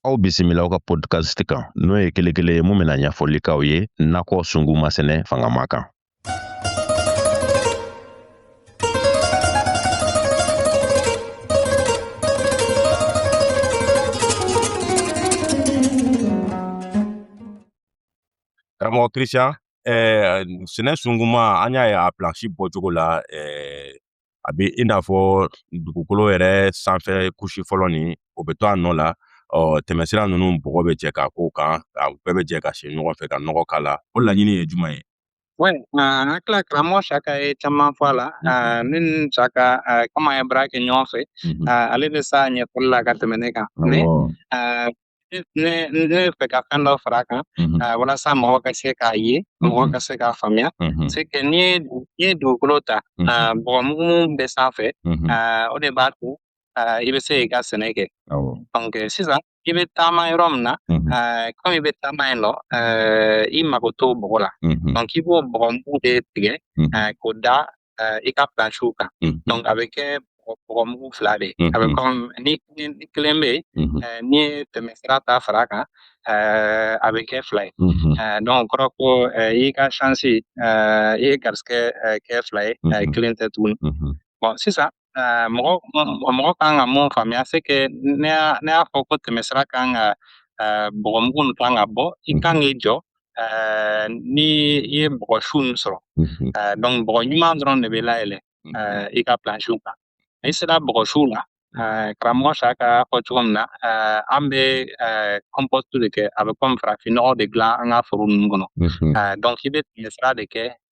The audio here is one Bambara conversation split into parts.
aw bisimila aw ka podcast kan n'o ye kelen kelen ye mun bɛna ɲɛfɔli k'aw ye nakɔ sunguma sɛnɛ fangama kan karamɔgɔ christian eh, sɛnɛ sunguma an y'a ye a plansi bɔcogo la eh, a bɛ i n'a fɔ dugukolo yɛrɛ sanfɛ kusi fɔlɔ nin o bɛ to a nɔ la ɔ tɛmɛsira ninnu bɔgɔ bɛ jɛ k'a k'o kan a bɛɛ bɛ jɛ ka si ɲɔgɔn fɛ ka nɔgɔ k'a la o laɲini ye jumɛn ye Oui, n hakili la karamɔgɔ Saka ye caman fɔ a la n ni Saka komi an ye baara kɛ ɲɔgɔn fɛ ale bɛ s'a ɲɛfɔli la ka tɛmɛ ne kan mais ne ne fɛ ka fɛn dɔ fara a kan walasa mɔgɔ ka se k'a ye mɔgɔ ka se k'a faamuya c'est que n'i ye n'i ye dugukolo ta bɔgɔmugu mun bɛ sanfɛ o de b'a to i bɛ se k'i ka sɛnɛ kɛ donc sisan i bɛ taama yɔrɔ min na kɔmi i bɛ taama yen nɔ i mago t'o bɔgɔ la donc i b'o bɔgɔmugu de tigɛ k'o da euh, i ka plansiw kan mhm. donc a bɛ kɛ bɔgɔmugu fila de ye a bɛ kɔmi ni kelen bɛ yen n'i ye tɛmɛsira ta fara a kan euh, a bɛ kɛ fila ye euh, donc o kɔrɔ ko i ka chance i y'i garisigɛ kɛ fila ye kelen tɛ tuguni bon sisan Ɛɛ mɔgɔ mɔgɔ kan ka mun faamuya c'est que ne y'a ne y'a fɔ ko tɛmɛsira kan ka ɛɛ bɔgɔmugu nin kan ka bɔ i kan k'i jɔ ɛɛ ni i ye bɔgɔ su nin sɔrɔ ɛɛ donc bɔgɔ ɲuman dɔrɔn de bɛ layɛlɛ ɛɛ i ka plansiw kan n'i sera bɔgɔ su la ɛɛ karamɔgɔ Saka y'a fɔ cogo min na ɛɛ an bɛ ɛɛ compost de kɛ a bɛ kɔmi farafinnɔgɔ de dilan an ka foro ninnu kɔnɔ ɛɛ donc i bɛ tɛmɛsira de kɛ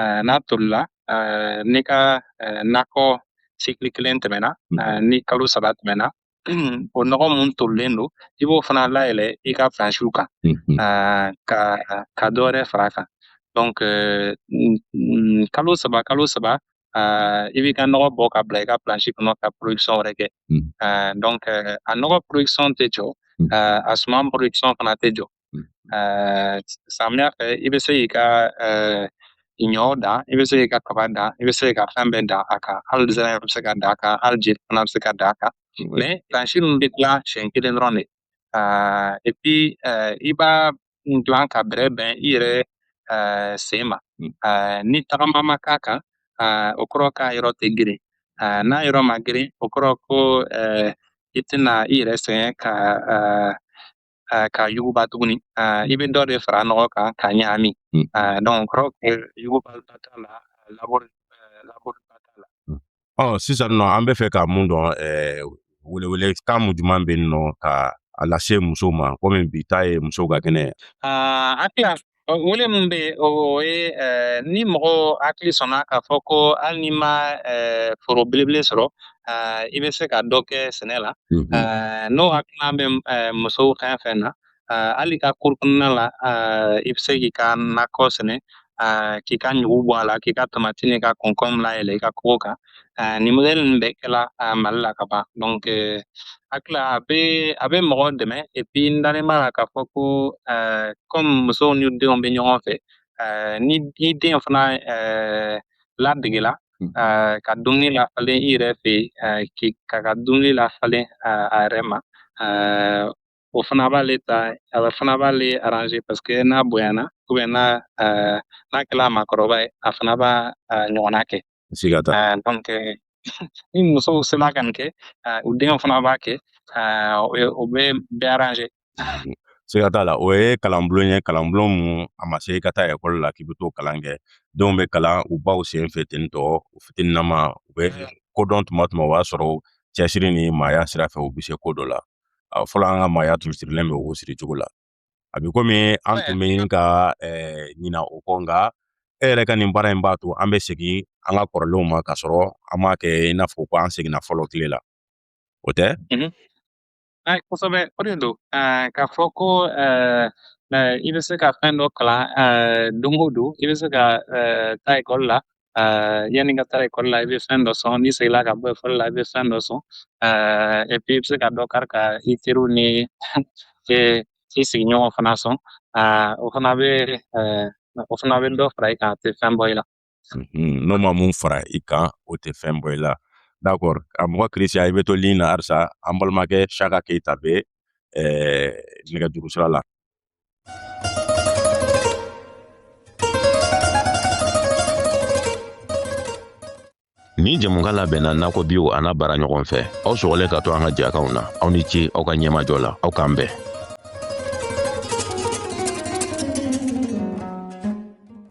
eh, n'a tolila eh, n'i ka eh, nakɔ cycle kelen tɛmɛna mm. eh, ni kalo saba tɛmɛna o nɔgɔ mun tolilen don i b'o fana layɛlɛ i ka plansiw kan mm-hmm. eh, ka ka dɔ wɛrɛ fara a kan donc eh, kalo saba kalo saba eh, i b'i ka nɔgɔ bɔ ka bila i ka plansi kɔnɔ ka production wɛrɛ kɛ mm. eh, donc eh, a nɔgɔ production tɛ jɔ mm. eh, a suman production fana tɛ jɔ Mm. Eh, samiya fɛ i bɛ se k'i ka eh, ɲɔ dan i bɛ se k'i ka kaba dan i bɛ se k'i ka fɛn bɛɛ dan a kan hali zɛrɛn bɛ se ka dan a kan hali jeli fana bɛ se ka dan a kan mais plansi ninnu bɛ dilan siɲɛ kelen dɔrɔn de et puis eh, i b'a dilan k'a bɛrɛbɛn i yɛrɛ sen ma mm. ni tagama ma k'a kan o kɔrɔ k'a yɔrɔ tɛ geren n'a yɔrɔ ma geren o kɔrɔ ko i tɛna i yɛrɛ sɛgɛn ka ka yuguba tuguni i bɛ dɔ de fara nɔgɔ kan ka ɲagami donc o kɔrɔ yuguba t'a la labori labori t'a la ɔ sisan nɔ an bɛ fɛ ka mun dɔn welewele kan mun jumɛn bɛ yen nɔ ka a lase musow ma komi bi ta ye musow ka kɛnɛ ye Wele min bɛ yen o ye ni mɔgɔ hakili sɔnna k'a fɔ ko hali n'i ma foro belebele sɔrɔ i bɛ se ka dɔ kɛ sɛnɛ la n'o hakilina bɛ musow fɛn fɛn na hali i ka kuru kɔnɔna la i bɛ se k'i ka nakɔ sɛnɛ k'i ka ɲugu bɔ a la k'i ka tamati n'i ka kɔnkɔn layɛlɛ i ka kogo kan euh, nin modèle ninnu bɛɛ kɛla euh, Mali la ka ban donc euh, hakili la a bɛ a bɛ mɔgɔw dɛmɛ et puis n dalen b'a la k'a fɔ ko euh, comme musow ni denw bɛ ɲɔgɔn fɛ euh, ni i den fana euh, ladegela hmm. euh, ka dumuni lafalen i yɛrɛ fɛ yen euh, k'i ka ka dumuni lafalen euh, a yɛrɛ ma euh, o fana b'ale ta a bɛ fana b'ale aranze paseke n'a bonyana ubiyɛn n'a ɛɛ n'a kɛla maakɔrɔba ye a fana b'a a ɲɔgɔnna kɛ siga t'a la dɔnke ni musow sela ka nin kɛ ɛɛ u denw fana b'a kɛ ɛɛ o ye o bɛ bɛɛ aranze siga t'a la o ye kalanbulon ye kalanbulon mun a ma se i ka taa ekɔli la k'i bɛ t'o kalan kɛ denw bɛ kalan u baw sen fɛ ten tɔ u fitininama u bɛ ko dɔn tuma tuma o b'a sɔrɔ cɛsiri ni maaya sira fɛ u bɛ se ko dɔ la A fɔlɔ an ka maaya tun sirilen bɛ o siri cogo la a bɛ komi an tun bɛ ɲini ka ɲina o kɔ nka e yɛrɛ ka nin baara in b'a to an bɛ segin an ka kɔrɔlenw ma ka sɔrɔ an m'a kɛ i n'a fɔ ko an seginna fɔlɔ tile la o tɛ kosɛbɛ o de don k'a fɔ ko i bɛ se ka fɛn dɔ kalan don o don i bɛ se ka taa ekɔli la Euh, yanni ka taa ekɔli la i bɛ fɛn dɔ sɔn n'i seginna ka bɔ ekɔli la i bɛ fɛn dɔ sɔn et puis i bɛ se ka dɔ kari ka i teriw ni i sigiɲɔgɔn fana sɔn euh, o fana bɛ o fana bɛ dɔ fara i kan a tɛ fɛn bɔ i la. Mhm, n'o ma mun fara i kan o tɛ fɛn bɔ i la d'accord karamɔgɔ Christian i bɛ to ligne na halisa an balimakɛ Shaka Keyita bɛ nɛgɛjuru sira la. Nin jɛmukan labɛnna Nakɔ Bio a n'a baaraɲɔgɔnw fɛ aw sɔgɔlen ka to an ka jɛkanw na aw ni ce aw ka ɲɛmajɔ la aw k'an bɛn